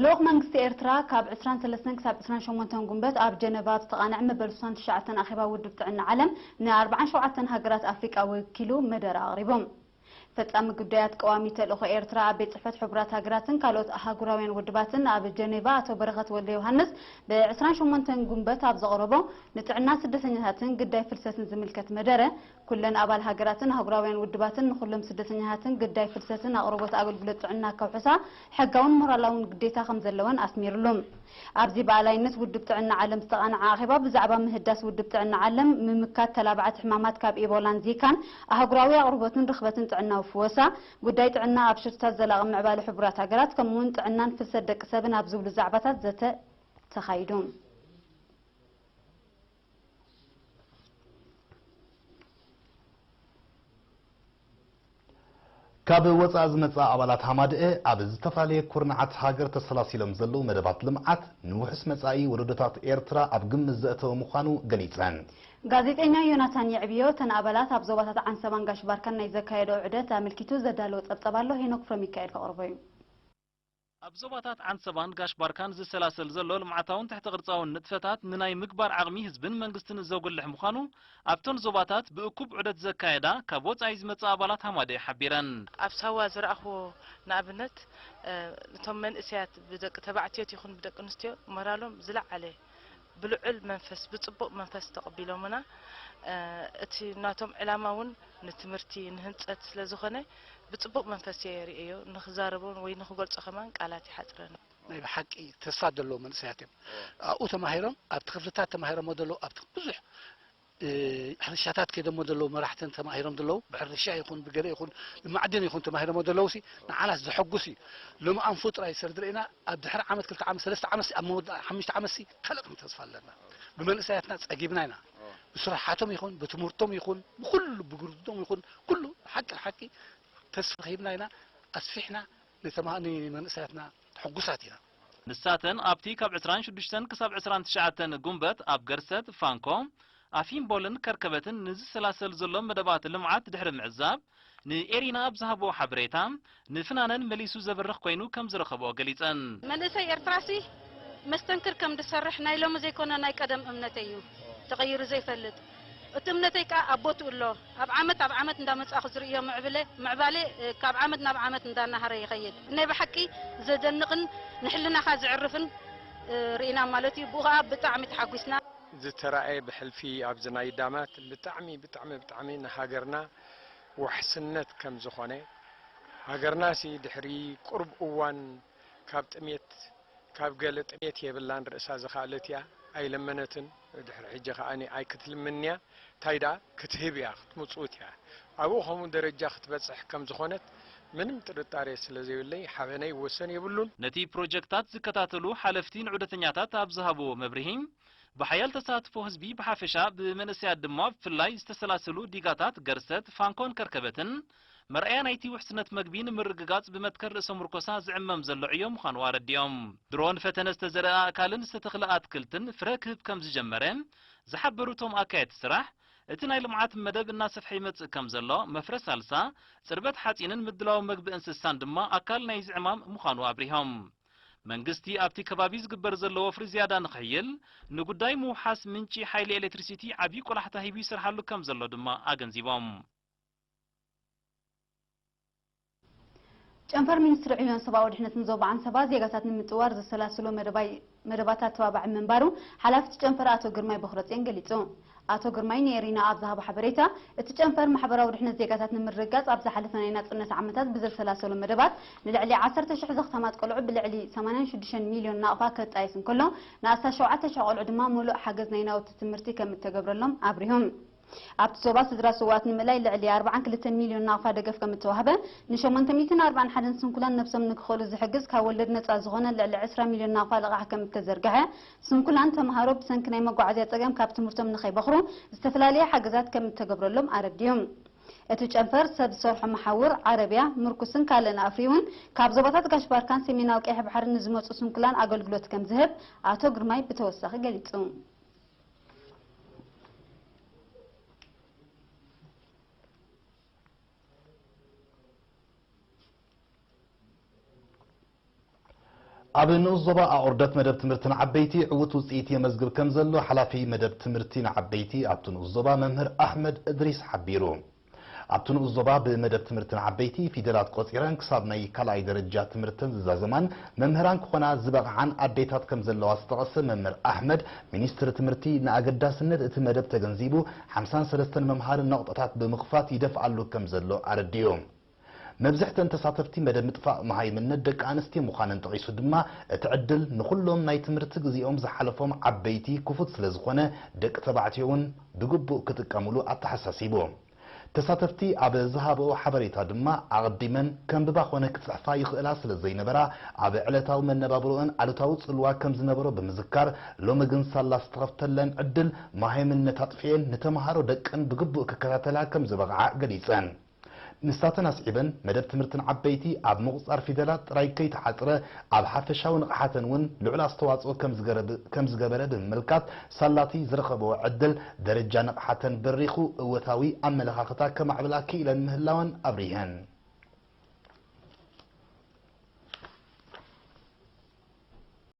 ልኡኽ መንግስቲ ኤርትራ ካብ ዕስራን ሰለስተን ክሳብ ዕስራን ሸሞንተን ጉንበት ኣብ ጀነቫ ኣብ ዝተቓንዐ መበል ስሳን ትሽዓተን ኣኼባ ውድብ ጥዕና ዓለም ንኣርብዓን ሸውዓተን ሃገራት ኣፍሪቃ ወኪሉ መደረ ኣቕሪቡ። ፈጻሚ ጉዳያት ቀዋሚ ተልእኾ ኤርትራ ኣብ ቤት ጽሕፈት ሕቡራት ሃገራትን ካልኦት ኣህጉራውያን ውድባትን ኣብ ጀነቫ ኣቶ በረኸት ወልደዮሃንስ ብ ዕስራን ሸሞንተን ጉንበት ኣብ ዘቕረቦ ንጥዕና ስደተኛታትን ግዳይ ፍልሰትን ዝምልከት መደረ ኩለን ኣባል ሃገራትን ኣህጉራውያን ውድባትን ንኹሎም ስደተኛታትን ግዳይ ፍልሰትን ኣቕርቦት ኣገልግሎት ጥዕና ከውሕሳ ሕጋውን ሞራላውን ግዴታ ከምዘለወን ኣስሚርሉ። ኣብዚ ብኣላይነት ውድብ ጥዕና ዓለም ዝተቓንዐ ኣኼባ ብዛዕባ ምህዳስ ውድብ ጥዕና ዓለም፣ ምምካት ተላባዕቲ ሕማማት ካብ ኢቦላን ዚካን፣ ኣህጉራዊ ኣቕርቦትን ርኽበትን ጥዕናዊ ፍወሳ፣ ጉዳይ ጥዕና ኣብ ሽርትታት ዘላቒ ምዕባለ ሕቡራት ሃገራት ከምኡ'ውን ጥዕናን ፍልሰት ደቂ ሰብን ኣብ ዝብሉ ዛዕባታት ዘተ ተኻይዱ። ካብ ወፃኢ ዝመፅኣ ኣባላት ሃማደኤ ኣብ ዝተፈላለየ ኩርንዓት ሃገር ተሰላሲሎም ዘለዉ መደባት ልምዓት ንውሑስ መፃኢ ወለዶታት ኤርትራ ኣብ ግምት ዘእተወ ምዃኑ ገሊፀን። ጋዜጠኛ ዮናታን የዕብዮ እተን ኣባላት ኣብ ዞባታት ዓንሰባን ጋሽ ባርካን ናይ ዘካየደኦ ዑደት ኣመልኪቱ ዘዳለዎ ፀብፃብ ኣሎ ሄኖክ ፍረሚካኤል ከቕርቦ እዩ። ኣብ ዞባታት ዓንሰባን ጋሽ ባርካን ዝሰላሰል ዘሎ ልምዓታውን ትሕተ ቅርጻውን ንጥፈታት ንናይ ምግባር ዓቕሚ ህዝብን መንግስትን ዘጉልሕ ምዃኑ ኣብተን ዞባታት ብእኩብ ዑደት ዘካየዳ ካብ ወጻኢ ዝመጻ ኣባላት ሃማደኤ ሓቢረን። ኣብ ሳዋ ዝረኣኽዎ ንኣብነት እቶም መንእሰያት ብደቂ ተባዕትዮት ይኹን ብደቂ ኣንስትዮ ሞራሎም ዝለዓለ ብልዑል መንፈስ ብጽቡቕ መንፈስ ተቐቢሎምና። እቲ ናቶም ዕላማ እውን ንትምህርቲ ንህንጸት ስለ ዝኾነ ብጽቡቕ መንፈስ እየ ርእየዮ። ንኽዛረቦ ወይ ንኽገልጾ ከማን ቃላት ይሓጽረኒ። ናይ ብሓቂ ተስፋ ዘለዎም መንእሰያት እዮም ኣብኡ ተማሂሮም ኣብቲ ክፍልታት ተማሂሮሞ ዘለዉ ኣብቲ ብዙሕ ብሕርሻታት ከይደሞ ዘለዉ መራሕትን ተማሂሮም ዘለዉ ብሕርሻ ይኹን ብገለ ይኹን ብማዕድን ይኹን ተማሂሮሞ ዘለዉሲ ንዓናስ ዘሐጉስ እዩ ሎሚ ኣንፉ ጥራይ ሰርዲ ርኢና ኣብ ድሕሪ ዓመት ክልተ ዓመት ሰለስተ ዓመትሲ ኣብ መወዳእታ ሓሙሽተ ዓመትሲ ካልእ ክንብል ተስፋ ኣለና ብመንእሰያትና ጸጊብና ኢና ብስራሓቶም ይኹን ብትምህርቶም ይኹን ብኩሉ ብግርድቶም ይኹን ኩሉ ሓቂ ሓቂ ተስፋ ሂብና ኢና ኣስፊሕና ንመንእሰያትና ሕጉሳት ኢና ንሳተን ኣብቲ ካብ ዕስራን ሽዱሽተን ክሳብ ዕስራን ትሽዓተን ጉንበት ኣብ ገርሰት፣ ፋንኮ፣ ኣፊምቦልን ከርከበትን ንዝሰላሰል ዘሎ መደባት ልምዓት ድሕሪ ምዕዛብ ንኤሪና ኣብ ዝሃብኦ ሓበሬታ ንፍናነን መሊሱ ዘብርኽ ኮይኑ ከም ዝረኸብኦ ገሊፀን። መንእሰይ ኤርትራሲ መስተንክር ከም ዝሰርሕ ናይ ሎሚ ዘይኮነ ናይ ቀደም እምነተይ እዩ። ተቐይሩ ዘይፈልጥ። እቲ እምነተይ ከኣ ኣብ ቦትኡ ኣሎ። ኣብ ዓመት ኣብ ዓመት እንዳመጻእኩ ዝርእዮ ምዕብለ ምዕባለ ካብ ዓመት ናብ ዓመት እንዳናሃረ ይኸይድ። ናይ ብሓቂ ዘደንቕን ንሕልናኻ ዘዕርፍን ርኢና ማለት እዩ። ብኡ ከኣ ብጣዕሚ ተሓጒስና። ዝተራእየ ብሕልፊ ኣብዚ ናይ ዳማት ብጣዕሚ ብጣዕሚ ብጣዕሚ ንሃገርና ዋሕስነት ከም ዝኾነ፣ ሃገርናሲ ድሕሪ ቁሩብ እዋን፣ ካብ ጥሜት ካብ ገለ ጥሜት የብላን ርእሳ ዝኻኣለት ኢያ ኣይለመነትን ድሕሪ ሕጂ ካኣ ኣይክትልምንን ኢያ ታይ ዳኣ ክትህብ ኢያ ክትሙጽውት ኢያ ኣብኡ ከምኡ ደረጃ ክትበጽሕ ከም ዝኾነት ምንም ጥርጣሬ ስለ ዘይብለይ ሓበነይ ወሰን የብሉን። ነቲ ፕሮጀክታት ዝከታተሉ ሓለፍቲ ንዑደተኛታት ኣብ ዝሃብዎ መብርሂ፣ ብሓያል ተሳትፎ ህዝቢ ብሓፈሻ ብመንእሰያት ድማ ብፍላይ ዝተሰላሰሉ ዲጋታት ገርሰት፣ ፋንኮን ከርከበትን መርኣያ ናይቲ ውሕስነት መግቢ ንምርግጋጽ ብመትከል ርእሰ ሙርኮሳ ዝዕመም ዘሎ ዕዮ ምዃኑ ኣረዲኦም። ድሮ ንፈተነ ዝተዘርኣ ኣእካልን ዝተተኽለ ኣትክልትን ፍረ ክህብ ከምዝጀመረ ዝሓበሩ እቶም ኣካየድቲ ስራሕ፣ እቲ ናይ ልምዓት መደብ እናሰፍሐ ይመጽእ ከምዘሎ፣ መፍረ ሳልሳ፣ ጽርበት ሓጺንን ምድላው መግቢ እንስሳን ድማ ኣካል ናይዚ ዕማም ምዃኑ ኣብሪሆም። መንግስቲ ኣብቲ ከባቢ ዝግበር ዘሎ ወፍሪ ዝያዳ ንኽሕይል ንጉዳይ ምውሓስ ምንጪ ሓይሊ ኤሌክትሪሲቲ ዓብዪ ቆላሕታ ሂቡ ይሰርሓሉ ከምዘሎ ድማ ኣገንዚቦም። ጨንፈር ሚኒስትሪ ዕዮን ሰብኣዊ ድሕነትን ዞባ ዓንሰባ ዜጋታት ንምጥዋር ዘሰላስሎ መደባት ኣተባባዒ ምንባሩ ሓላፊ'ቲ ጨንፈር ኣቶ ግርማይ ቦኽረጼን ገሊጹ። ኣቶ ግርማይ ንኤሪና ኣብ ዝሃቦ ሓበሬታ፣ እቲ ጨንፈር ማሕበራዊ ድሕነት ዜጋታት ንምርግጋጽ ኣብ ዝሓለፈ ናይ ናጽነት ዓመታት ብዘሰላሰሎ መደባት ንልዕሊ ዓሰርተ ሽሕ ዘኽታማት ቆልዑ ብልዕሊ ሰማንያን ሽዱሽተን ሚልዮን ናቕፋ ከጣይስ እንከሎ ንኣስታት ሸውዓተ ሽሕ ቆልዑ ድማ ምሉእ ሓገዝ ናይ ናውቲ ትምህርቲ ከምእተገብረሎም ኣብሪሁ። ኣብቲ ዞባ ስድራ ስውኣት ንምእላይ ልዕሊ ኣርብዓን ክልተን ሚልዮን ናቕፋ ደገፍ ከም እተዋህበ፣ ን ሸሞንተ ሚእትን ኣርብዓን ሓደን ስንኩላን ነብሶም ንክኽእሉ ዝሕግዝ ካብ ወለድ ነጻ ዝኾነ ልዕሊ ዕስራ ሚልዮን ናቕፋ ልቓሕ ከም እተዘርግሐ፣ ስንኩላን ተመሃሮ ብሰንኪ ናይ መጓዓዝያ ጸገም ካብ ትምህርቶም ንኸይበኽሩ ዝተፈላለየ ሓገዛት ከም እተገብረሎም ኣረዲኡ። እቲ ጨንፈር ሰብ ዝሰርሖ መሓውር፣ ዓረብያ፣ ምርኩስን ካልእን ኣፍሪዩ'ውን ካብ ዞባታት ጋሽ ባርካን ሰሜናዊ ቀይሕ ባሕርን ንዝመጹ ስንኩላን ኣገልግሎት ከም ዝህብ ኣቶ ግርማይ ብተወሳኺ ገሊጹ። ኣብ ንኡስ ዞባ ኣቑርደት መደብ ትምህርቲ ንዓበይቲ ዕዉት ውፅኢት የመዝግብ ከምዘሎ ሓላፊ መደብ ትምህርቲ ንዓበይቲ ኣብቲ ንኡስ ዞባ መምህር ኣሕመድ እድሪስ ሓቢሩ። ኣብቲ ንኡስ ዞባ ብመደብ ትምህርቲ ንዓበይቲ ፊደላት ቆጺረን ክሳብ ናይ ካልኣይ ደረጃ ትምህርተን ዝዛዘማን መምህራን ክኾና ዝበቕዓን ኣዴታት ከምዘለዋ ዝጠቐሰ መምህር ኣሕመድ፣ ሚኒስትሪ ትምህርቲ ንኣገዳስነት እቲ መደብ ተገንዚቡ ሓምሳን ሰለስተን መምሃሪ ነቑጣታት ብምኽፋት ይደፍኣሉ ከምዘሎ ኣረዲኡ። መብዝሕተን ተሳተፍቲ መደብ ምጥፋእ መሃይምነት ደቂ ኣንስትዮ ምዃነን ጠቒሱ ድማ እቲ ዕድል ንኹሎም ናይ ትምህርቲ ግዚኦም ዝሓለፎም ዓበይቲ ክፉት ስለዝኾነ ደቂ ተባዕትዮ እውን ብግቡእ ክጥቀምሉ ኣተሓሳሲቡ። ተሳተፍቲ ኣብ ዝሃበኦ ሓበሬታ ድማ ኣቐዲመን ከንብባ ኮነ ክፅሕፋ ይኽእላ ስለዘይነበራ ኣብ ዕለታዊ መነባብሮኣን ኣሉታዊ ፅልዋ ከምዝነበሮ ብምዝካር ሎሚ ግን ሳላ ዝተኸፍተለን ዕድል መሃይምነት ኣጥፊኤን ንተምሃሮ ደቀን ብግቡእ ክከታተላ ከምዝበቕዓ ገሊፀን። ንሳተን ኣስዒበን፣ መደብ ትምህርተን ዓበይቲ ኣብ ምቑጽጻር ፊደላት ጥራይ ከይተሓጽረ፣ ኣብ ሓፈሻዊ ንቕሓተን እውን ልዑል ኣስተዋጽኦ ከም ዝገበረ ብምምልካት፣ ሳላ'ቲ ዝረኸበኦ ዕድል፣ ደረጃ ንቕሓተን በሪኹ እወታዊ ኣመለኻኽታ ከማዕብላ ክኢለን ምህላወን ኣብሪሀን።